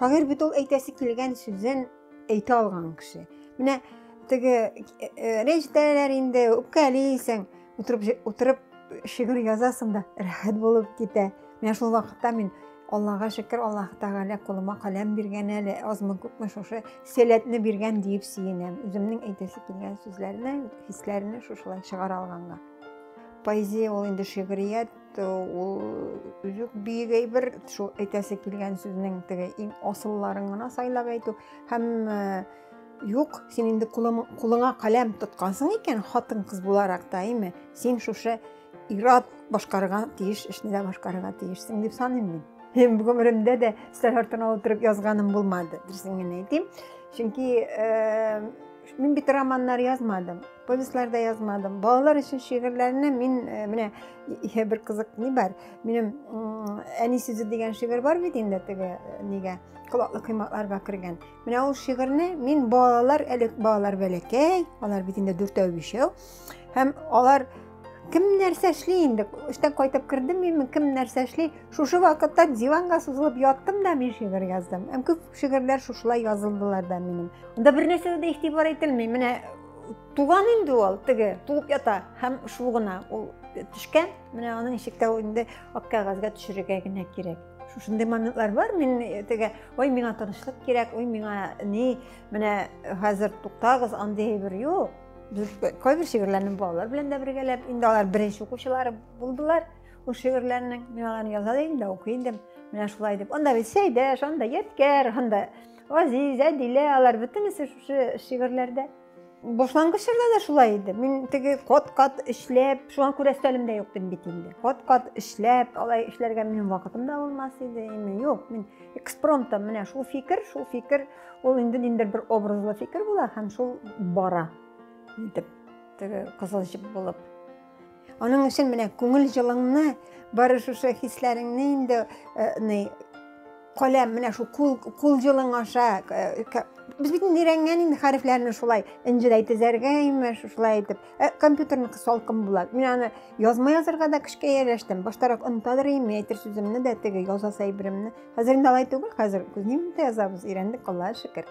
Шагыйрь бит ул әйтәсе килгән сүзен әйтә алган кеше. Менә теге рәҗәтәләр инде үпкәлисең, Утырып, утырып шигырь язасың да, рәхәт булып китә. Менә шул вакытта мин Аллага шөкер, Аллаһ Тәгалә кулыма каләм биргән әле, азмы күпме шушы сәләтне биргән диеп сөенәм. Үземнең әйтәсе килгән сүзләрне, хисләрне шушылай чыгара алганга. Поэзия ул инде шигърият, ул үзүк биек әйбер, шул әйтәсе килгән сүзнең теге иң асылларын гына сайлап әйтү һәм Юк, син инде кулыңа каләм тоткансың икән, хатын-кыз буларак та, әйме, син шушы ират башкарырга тиеш, эшне дә башкарырга тиешсең дип саныйм мин. Һәм гомеремдә дә стәр артына утырып язганым булмады, дөресен генә әйтим. Чөнки э, мин бит романнар язмадым, повестьлар да язмадым. Балалар өчен шигырьләрне мин э, менә иһә бер кызык ни бар. Минем әни сүзе дигән шигырь бар бит инде теге э, нигә, колаклы коймакларга кергән. Менә ул шигырьне мин балалар, әле балалар бәләкәй, алар бит инде дүртәү бишәү. Һәм алар кем нәрсә эшли инде? Эштән кайтып кердем мин, кем нәрсә эшли? Шушы вакытта диванга сузылып яттым да мин шигырь яздым. Һәм күп шигырьләр шушылай язылдылар да минем. Анда бер нәрсә дә игътибар ителми. Менә туган инде ул, теге, туып ята. Һәм шул гына ул төшкән. Менә аның ишектә инде ак кәгазьгә төшерергә генә кирәк. Шушындый моментлар бар. Мин э, теге ой миңа тынычлык кирәк ой миңа ни менә хәзер туктагыз андый әйбер юк без кайбер шигырьләрне балалар белән дә бергәләп инде алар беренче укучылары булдылар ул шигырьләрнең мин аларны яза да идем дә укый идем менә шулай дип анда сәйдәш анда ядкәр анда азиз әдилә алар бөтенесе шушы шигырьләрдә Башлангыч чорда да шулай иде. Мин теге кат-кат эшләп, шуңа күрә өстәлем дә юк дим бит инде. Кат-кат эшләп, алай эшләргә минем вакытым да булмас иде. Инде юк, мин экспромтом менә шул фикер, шул фикер, ул инде ниндер бер образлы фикер була һәм шул бара. Итеп, теге кызыл җеп булып. Аның өчен менә күңел җылыңны, бары шушы хисләреңне инде ни каләм менә шул кул кул җылың аша без бит инде өйрәнгән инде хәрефләрне шулай энҗедәй тезәргә имеш шулай итеп ә компьютерныкы салкын була мин аны язма язырга да көчкә ияләштем баштарак онытадыр идем әйтер сүземне дә теге язасы әйберемне хәзер инде алай түгел хәзер күзнең дә язабыз өйрәндек аллага шөкер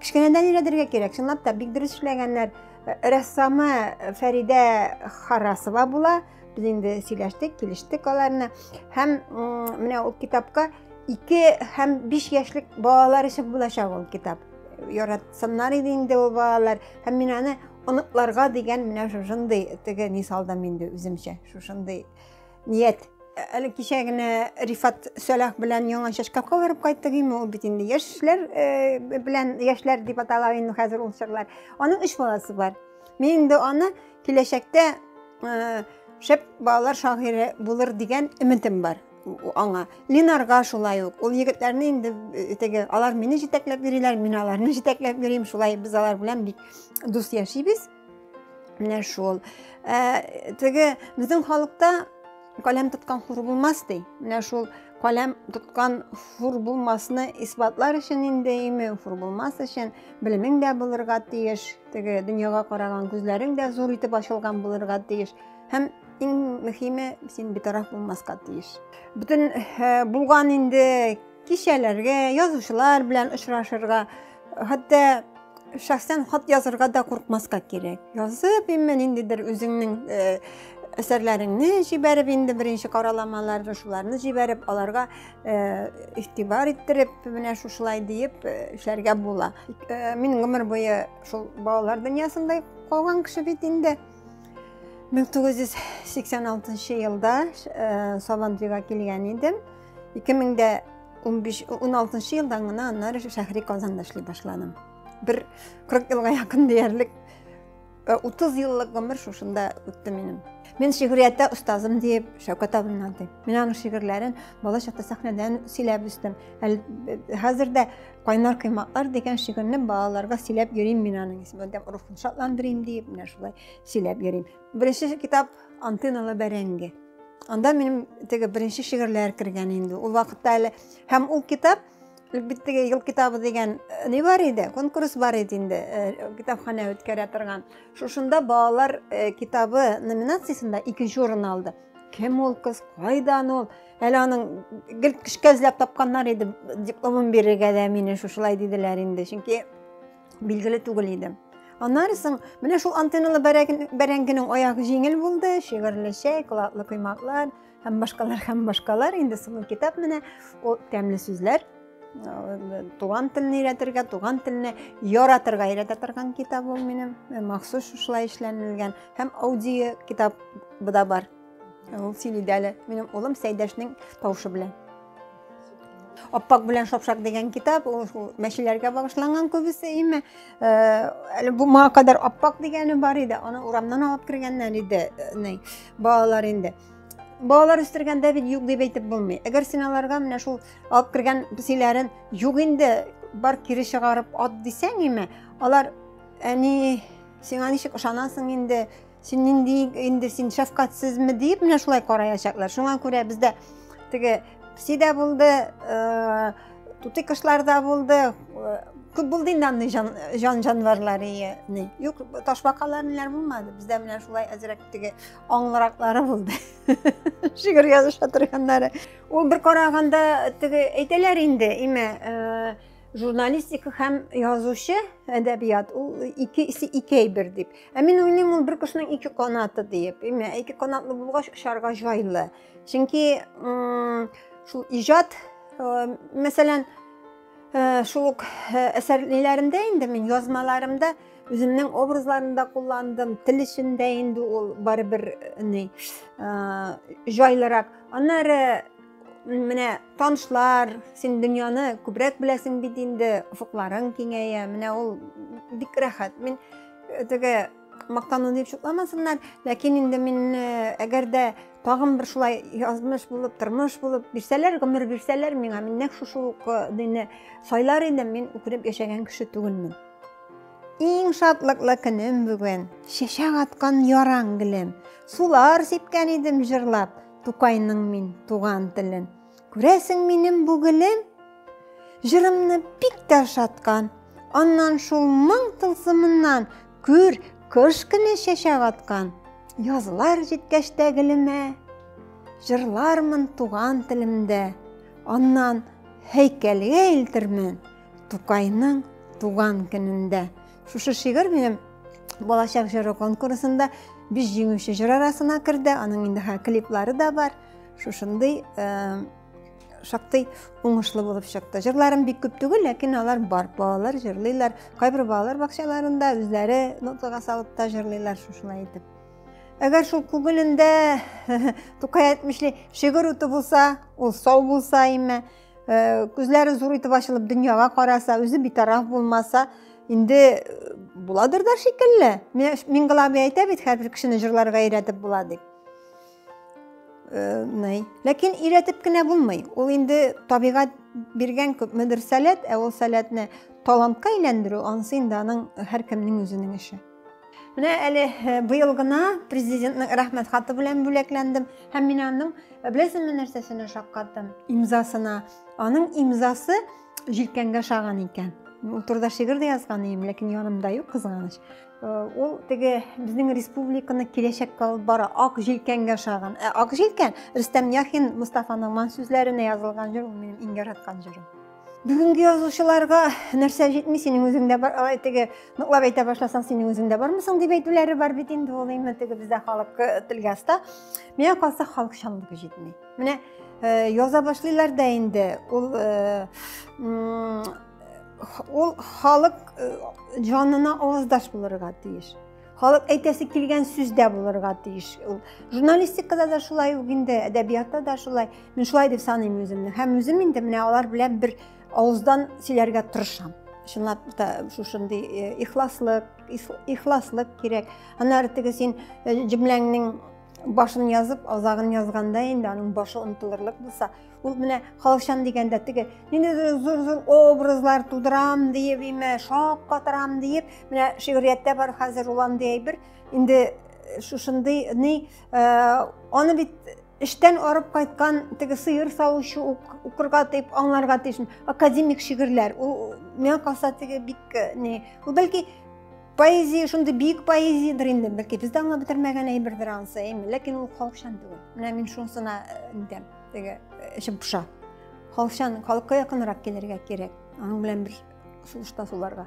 Кечкенәдән өйрәтергә кирәк, чынлап та бик дөрес эшләгәннәр. Э, рәссамы э, Фәридә Харасова була. Без инде сөйләштек, килештек аларны. Һәм менә ул китапка 2 һәм 5 яшьлек балалар өчен булачак ул китап. Яратсыннар иде инде ул балалар. Һәм мин аны оныкларга дигән менә шушындый теге мисалдан инде үземчә шушындый Ният, әле кичә генә Рифат Сәлах белән яңа шкафка барып кайттык инде, ул бит инде яшьләр э, белән яшьләр дип атала инде хәзер ул чаклар. Аның өч баласы бар. Мин инде аны киләчәктә э, шәп балалар шагыйре булыр дигән өметем бар аңа. Линарга шулай ук. Ул егетләрне инде э, теге алар мине җитәкләп йөриләр, мин аларны җитәкләп йөрим. Шулай без алар белән бик дус яшибез. Менә шул. Ә, теге безнең халыкта каләм тоткан хур булмас ди. Менә шул каләм тоткан хур булмасны исбатлар өчен инде име, хур булмас өчен белемең дә булырга тиеш, теге дөньяга караган күзләрең дә зур итеп ачылган булырга тиеш. Һәм иң мөһиме, син битараф булмаска тиеш. Бүтән булган инде Кичәләргә, язучылар белән очрашырга, хәтта шәхсән хат язырга да куркмаска кирәк. Язып инде ниндидер үзеңнең әсәрләреңне җибәреп инде беренче караламаларны шуларны җибәреп аларга э, игътибар иттереп менә шушылай диеп э, эшләргә була э, мин гомер буе шул балалар дөньясында калган кеше бит инде 1986 елда сабантуйга килгән идем 2015-16 елдан гына аннары шәһри Казанда эшли башладым. Бер 40 елга якын диярлек 30 э, еллык гомер шушында үтте минем. Мен шигърияттә остазым диеп Шәүкәт абымнан дип. Мин аның шигырьләрен бала чакта сәхнәдән сөйләп үстем. Э, хәзер дә Кайнар кыйматлар дигән шигырьне балаларга сөйләп йөрим мин аның исемен. Рухын шатландырыйм диеп, менә шулай сөйләп йөрим. Беренче китап Антиналы бәрәңге. Анда минем теге беренче шигырьләр кергән инде. Ул вакытта әле һәм ул китап бит теге ел китабы дигән э, ни бар иде, конкурс бар иде инде, э, китапханә үткәрә торган. Шушында балалар э, китабы номинациясендә икенче урын алды. Кем ул кыз, кайдан ул? Әле аның гел кешкә эзләп тапканнар иде, дипломын бирергә дә мине шушылай диделәр инде. Чөнки билгеле түгел иде. Аннары соң менә шул антенналы бәрәңгенең аягы җиңел булды, шигырьле чәй, кылатлы коймаклар һәм башкалар һәм башкалар инде соңгы китап менә ул тәмле сүзләр э, туган телне өйрәтергә, туган телне яратырга өйрәтә торган китап ул минем, э, махсус шушылай эшләнелгән һәм аудио китабы да бар. Ул сөйли дә әле минем улым Сәйдәшнең тавышы белән. Аппак белән шапшак дигән китап, ул мәчеләргә багышланган күбесе име. Э, әле бу моңа кадәр аппак дигәне бар иде, аны урамнан алып кергәннәр иде, э, балалар инде. Балалар үстергәндә бит юк дип әйтеп булмый. Әгәр син аларга менә шул алып кергән песиләрен юк инде, бар кире чыгарып ат дисәң име, алар әни сиңа ничек ышанасың инде Син нинди инде син шәфкатьсезме дип менә шулай караячаклар. Шуңа күрә бездә теге пси дә булды, э, тутый кошлар да булды, э, күп булды инде андый җан, җан җанварлары яни. Юк, ташбакалар ниләр булмады. Бездә менә шулай әзрәк теге аңлыраклары булды. Шигырь языша торганнары. Ул бер караганда теге әйтәләр инде, имә, э, журналистика һәм язучы әдәбият ул икесе ике әйбер дип ә мин уйлыйм ул бер кешенең ике канаты диеп әмма ике канатлы булгач очарга җайлы чөнки шул иҗат мәсәлән шул ук әсәрләрендә инде мин язмаларымда үземнең образларында кулландым тел эчендә инде ул барыбер ни җайлырак аннары Менә танышлар, син дөньяны күбрәк беләсең бит инде, офыкларың киңәя. Менә ул бик рәхәт. Мин э, теге мактану дип шутламасыннар, ләкин инде мин э, әгәр дә тагын бер шулай язмыш булып, тормыш булып бирсәләр, гомер бирсәләр миңа, мин нәкъ шушы ук э, дине сайлар идем, мин үкенеп яшәгән кеше түгелмен. Иң шатлыклы көнем бүген, чәчәк аткан яран гөлем. Сулар сипкән идем җырлап, Тукайның мин туган телен. Күрәсең минем бу гелем? Җырымны бик тә ошаткан. Аннан шул моң тылсымыннан күр, кыш көне чәчәк аткан. Язлар җиткәч тә гелемә, җырлармын туган телемдә. Аннан һәйкәлгә илтермен Тукайның туган көнендә. Шушы шигырь минем балачак җыры конкурсында биш җиңүче җыр арасына керде. Аның инде хә клиплары да бар. Шушындый э, шактый уңышлы булып чыкты. Җырларым бик күп түгел, ләкин алар бар. Балалар җырлыйлар. Кайбер балалар бакчаларында үзләре нотага салып та җырлыйлар шушылай итеп. Әгәр шул күңелендә Тукай әйтмешли, шигырь уты булса, ул сау булса име? Э, күзләре зур итеп ачылып дөньяга караса үзе битараф булмаса инде э, буладыр да шикелле миңгала абый әйтә бит һәрбер кешене җырларга өйрәтеп була дип э, ләкин өйрәтеп кенә булмый ул инде табигать биргән күпмедер сәләт ә ул сәләтне талантка әйләндерү анысы инде аның һәркемнең үзенең эше Менә әле э, быел гына президентның рәхмәт хаты белән бүләкләндем һәм мин аның э, беләсеңме нәрсәсенә шаккаттым? Имзасына. Аның имзасы җилкәнгә шаган икән. Ул турыда шигырь дә язган идем, ләкин янымда юк кызганыч. Э, ул теге безнең республиканы киләчәккә алып бара, ак җилкәнгә шаган. Ә ак җилкән Рөстәм Яхин Мустафаның ман сүзләренә язылган җыр, ул минем иң яраткан җырым. Бүгенге язучыларга нәрсә җитми, синең үзеңдә бар, алай теге ныклап әйтә башласаң, синең үзеңдә бармысың дип әйтүләре бар бит инде ул инде теге бездә халык э, телгә оста. Миңа калса халыкчанлыгы җитми. Менә э, яза башлыйлар да инде ул э, ул халык җанына аваздаш булырга тиеш. Халык әйтәсе килгән сүз дә булырга тиеш. Ул журналистикада да шулай ук инде, әдәбиятта да шулай. Мин шулай дип саныйм үземне. Һәм үзем инде менә алар белән бер авыздан сөйләргә тырышам. Чынлап та шушындый э, ихласлык, ихласлык кирәк. Аннары теге син э, җөмләңнең башын язып, азагын язганда инде аның башы онтылырлык булса, Ул менә халыкчан дигәндә теге нинди зур-зур образлар тудырам диеп, име, шап катырам диеп, менә шигърияттә бар хәзер ул андый әйбер, инде э, шушындый ни э, аны бит эштән арып кайткан теге сыер савучы укырга дип аңларга тиеш академик шигырьләр ул миңа калса теге бик э, не ул бәлки поэзия шундый биек поэзиядер инде бәлки без дә аңлап бетермәгән әйбердер анысы әйме ләкин ул халыкчан түгел менә мин шунысына э, интәм теге эчем поша халыкчан халыкка якынрак килергә кирәк аның белән бер сулышта суларга